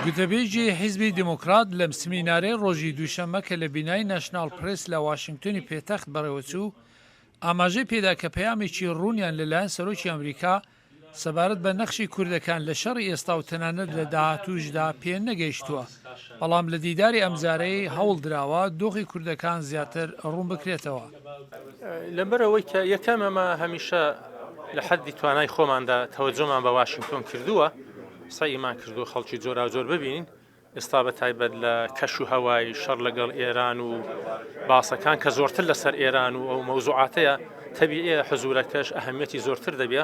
گوتەبێژی حیزبی دێموکڕات لەم سمینارەی ڕۆژی دووشەممە کە لە بینای ناشناڵ پرێس لە واشنگتۆنی پێتەخت بەڕێوەچوو، ئاماژەی پێدا کە پەیامێکی ڕوونیان لەلایەن سەرۆکی ئەمریکا سەبارەت بە نەخشی کوردەکان لە شەڕی ئێستا و تەنانەت لە داهاتووشدا پێنەگەیشتووە. بەڵام لە دیداری ئەمجارەی هەوڵ دراوە دۆخی کوردەکان زیاتر ڕوون بکرێتەوە. لەبەر ئەوەی کە یەکەم ئەمە هەمیشە لە حەددی توانای خۆماندا تەوەجۆمان بە واشینگتۆن کردووە، سەعیمان کردووە خەڵکی جۆراوجۆر ببینین، ئێستا بە تایبەت لە کەش و هەوای شەڕ لەگەڵ ئێران و باسەکان کە زۆرتر لەسەر ئێران و ئەو مەوزوعاتەیە، تەبیعییە حزوورەکەش ئەهەمییەتی زۆرتر دەبێ.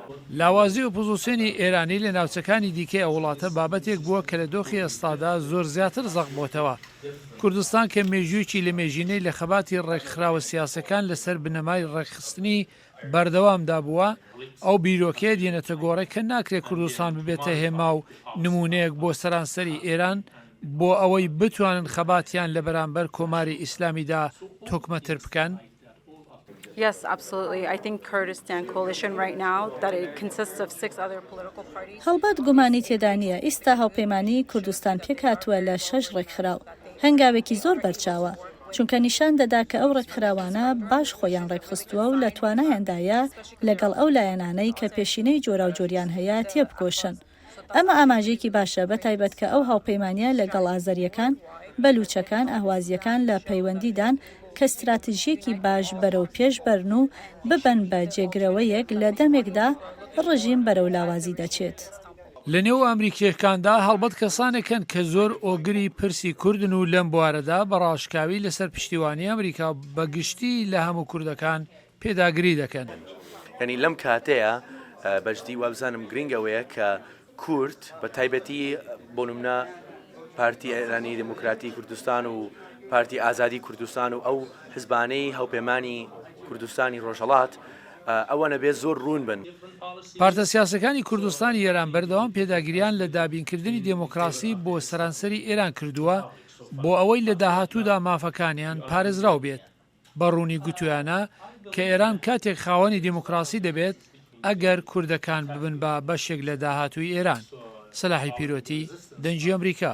لاوازی ئۆپۆزۆسیۆنی ئێرانی لە ناوچەکانی دیکەی ئەو وڵاتە بابەتێک بووە کە لە دۆخی ئێستادا زۆر زیاتر زەق بۆتەوە. کوردستان کە مێژوویەکی لەمێژینەی لە خەباتی ڕێکخراوە سیاسەکان لە سەر بنەمای ڕێکخستنی بەردەوامدا بووە، ئەو بیرۆکەیە دێنێتە گۆڕێ کە ناکرێ کوردستان ببێتە هێما و نموونەیەک بۆ سەرانسەری ئێران بۆ ئەوەی بتوانن خەباتیان لە بەرامبەر کۆماری ئیسلامیدا تۆکمەتر بکەن. هەڵبەت گومانی تێدا نییە ئیستا هاوپەیمانیی کوردستان پێکهاتووە لە شەش ڕێکخراو. هەنگاوێکی زۆر بەرچاوە، چونکە نیشان دەدا کە ئەو ڕێکخراوانە باش خۆیان ڕێکخستووە و لە توانایاندایە لەگەڵ ئەو لایەنانەی کە پێشینەی جۆراوجۆریان هەیە تێبکۆشن. ئەمە ئاماژەیەکی باشە بە تایبەت کە ئەو هاوپەیمانییە لە گەڵ ئازەرییەکان، بەلووچەکان، ئەهوازییەکان لە پەیوەندی دان کە ستراتژییەکی باش بەرەو پێش بەرن و ببن بە جێگرەوەیەک لە دەمێکدا ڕژیم بەرەو لاوازی دەچێت. لە نێو ئەمریکییەکاندا هەڵبەت کەسانێک هەن کە زۆر ئۆگری پرسی کوردن و لەم بوارەدا بە ڕاشکاوی لە سەر پشتیوانی ئەمریکا و بە گشتی لە هەموو کوردەکان پێداگری دەکەن. یانی لەم کاتەیا بەجدی وابزانم گرینگ ئەوەیە کە کورد بە تایبەتی بۆ نمونە پارتی ئێرانی دموکراتی کوردستان و پارتی ئازادی کوردستان و ئەو حزبانەی هەوپێمانی کوردستانی ڕۆژهڵات ئەوە نەبێ زۆر ڕوون بن. پارتە سیاسەکانی کوردستانی ئێران بەردەوام پێداگریان لە دابینکردنی دێمۆکڕاسی بۆ سەرانسەری ئێران کردووە بۆ ئەوەی لە داهاتوودا مافەکانیان پارێزراو بێت. بە ڕوونی گوتویانە کە ئێران کاتێک خاوەنی دیموکراسی دەبێت ئەگەر کوردەکان ببن بە بەشێک لە داهاتووی ئێران، سلاحی پیرۆتی، دەنگی ئەمریکا.